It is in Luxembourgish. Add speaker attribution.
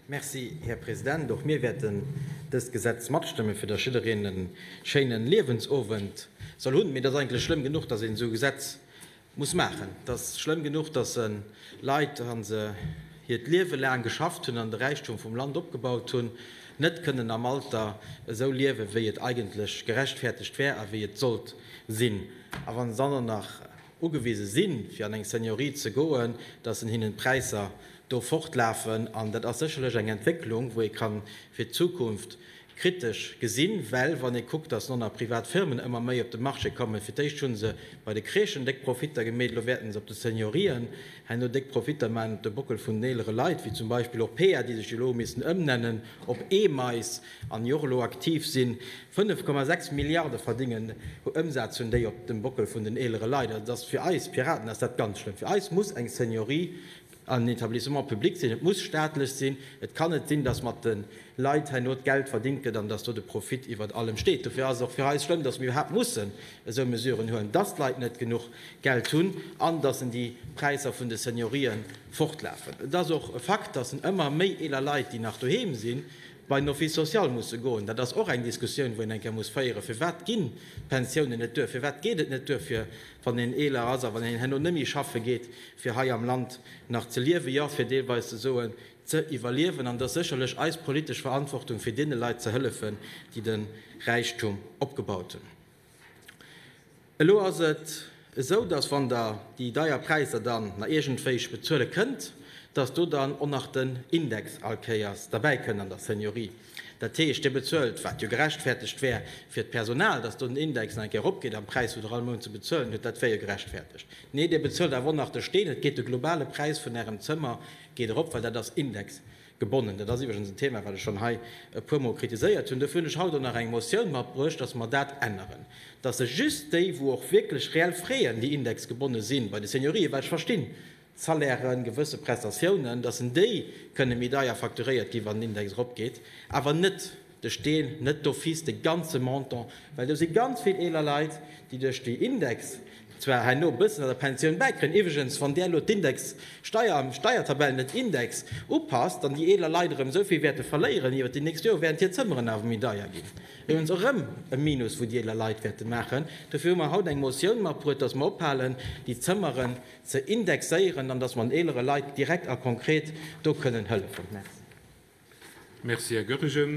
Speaker 1: Merci, Här President. Och mir wäerten dëst Gesetz matstëmmen, fir dass jiddereen e schéinen Liewensowend soll hunn. Mee et ass eigentlech schlëmm genuch, dass een esou e Gesetz muss maachen. Et ass schlëmm genuch, dass en Leit, wa se hiert Liewe laang geschafft hunn an de Räichtum vum Land opgebaut hunn, net kënnen am Alter esou liewen, wéi et eigentlech gerechtfertegt wär a wéi et sollt sinn. A wa se dann och nach ugewise sinn, fir an eng Seniorie ze goen, dass en hinnen d'Präisser do fortlafen. An dat ass sécherlech eng Entwécklung, wou ee ka fir d'Zukunft kritesch gesinn, well wann ee kuckt, dass elo nach privat Firmen ëmmer méi op de Marché kommen, fir d'éischt hu se bei de Crèchen déck Profitter gemeet, elo wäerten se op de Seniorien herno déck Profitter maachen op de Bockel vun den eelere Leit, wéi zum Beispill och Pear, déi sech jo elo hu missen ëmnennen op Emeis. an jo och elo aktiv sinn, 5,6 Milliarde verdingen, Ëmsaz hunn déi op dem Bockel vun den eelere Leit. Also dass fir eis Piraten ass dat ganz schlëmm. Fir eis muss eng Seniorie en Etablissement public sinn, et muss staatlech sinn. Et kann net sinn, dass mat de Leit herno d'Geld verdingt gëtt an dass do de Profit iwwert allem steet. Dofir ass et och fir eis schlëmm, dass mir iwwerhaapt mussen esou Mesuren huelen, dass d'Leit net genuch Geld hunn an dass en déi Präisser vun de Seniorien fortlafen. Et ass och e Fakt, dass en ëmmer méi eeler Leit, déi nach doheem sinn, bei den Office social musse goen. Dat ass och eng Diskussioun, wou een eng Kéier muss féieren, Firwat ginn d'Pensiounen net duer? Firwat geet et net duer, fir, wann een eeler ass a wann een herno net méi schaffe geet, fir hei am Land nach ze liewen, jo, fir deelweis ze soen, ze iwwerliewen? An et ass sécherlech eis politesch Verantwortung, fir deene Leit ze hëllefen, déi de Räichtum opgebaut hunn. Elo ass et esou, dass, wann Der déi deier Präisser dann na iergendwéich bezuele kënnt, dass do dann och nach den Index allkéiers derbäi kënnt an der Seniorie. Dat heescht, Dir bezuelt, wat jo gerechtfertegt wär fir d'Personal, dass do den Index nach eng Kéier eropgeet am Präis, wou Der all Mount ze bezuelen hutt, dat wär jo gerechtfertegt. Nee, Dir bezuelt awer och nach de Steen, et geet de globale Präis vun Ärem Zëmmer geet erop, well dat ass Index. Gebonnen. Dat ass iwwregens en Thema, wat ech schonn hei e puermol kritiséiert hunn. Dofir hunn ech haut och nach eng Motioun matbruecht, dass mer dat änneren, dass sech just déi, wou och wierklech reell freeën, déi indexgebonne si bei de Seniorië, well ech verstinn, Salairen, gewësse Prestatiounen, dass en déi kënne méi deier facturéiert gi wann den Index eropgeet, awer net, de Steen net d'office de ganze Montant, well do si ganz vill eeler Leit, déi duerch déi Index zwar herno e bëssen an der Pensioun bäikréien, iwwregens, wann där elo d'Indexsteuer an d'Steiertabell net Index upasst, dann déi eeler Leit erëm esou vill wäerte verléieren iwwer déi nächst Jore, wärend hir Zëmmeren awer méi deier ginn. Iwwregens och erëm e Minus, wou déi eeler Leit wäerte maachen. Dofir hu mer haut eng Motioun matbruet, dass mer ophalen, déi Zëmmeren ze indexéieren an dass mer den eelere Leit direkt a konkret do kënnen hëllefen. Merci. Merci,
Speaker 2: Här
Speaker 1: Goergen.